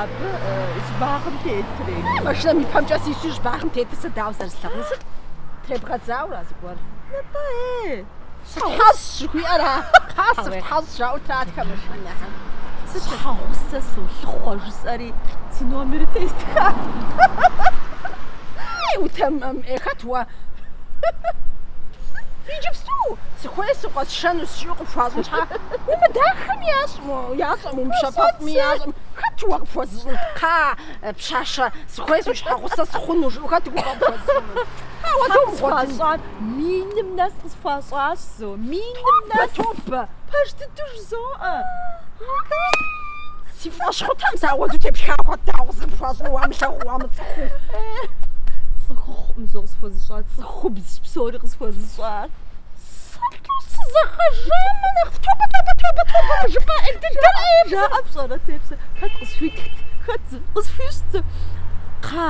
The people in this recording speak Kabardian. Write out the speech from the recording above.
абы щӏыбагъым тетрей. Машинэм и пэмкӏэ сису щӏыбагъым тетыр сэ дауэ зэрыслъагъун сыт? Требгъэдзауэ зыгуэр. Нтӏэ, ей! Сытхьэщӏ жыхуиӏэра? Кхъа, сыфтхьэщӏ, жаӏэу тратхэ машинэхэм. Щхьэгъусэ солъыхъуэ, жысӏэри си номерыр тестха. Ей, утэмэм, ей, хэт уэ? Иджыпсту сыхуейщ укъэсшэну жиӏэу къыпхуащӏыхьа. Умыдахэм ящӏ, ящӏэм, умыщэпэфӏми ящӏэм, хэт уэ къыпхуэзыщӏын? Кхъа, пщащэ, сыхуейщ уи щхьэгъусэ сыхъуну, жыӏэу хэт уи гугъэ къыпхуэзыщӏыну? Ауэ домыгъуэтын. Миным нэс къысхуащӏащ зо. Миным нэс. Тобэ, пэж дыдэу жызоӏэ. Си фӏэщ хъутэм сауэду тепшха хэт дауэ къыпхуащӏу уамылъагъуу уамыцӏыхуу. Цӏыхухъум зо къысхуэзыщӏар, цӏыхубз псори къысхуэзыщӏар. Сыту сызэгъэжамэ нэхъ тобэ тобэ тобэ тобэ мыжыпӏэ ӏей дыдэр ӏей жаӏэ пщӏэрэ тепсэ. Хэт къысхуитхт, хэт зы, къысхуищӏ зы. Кхъа,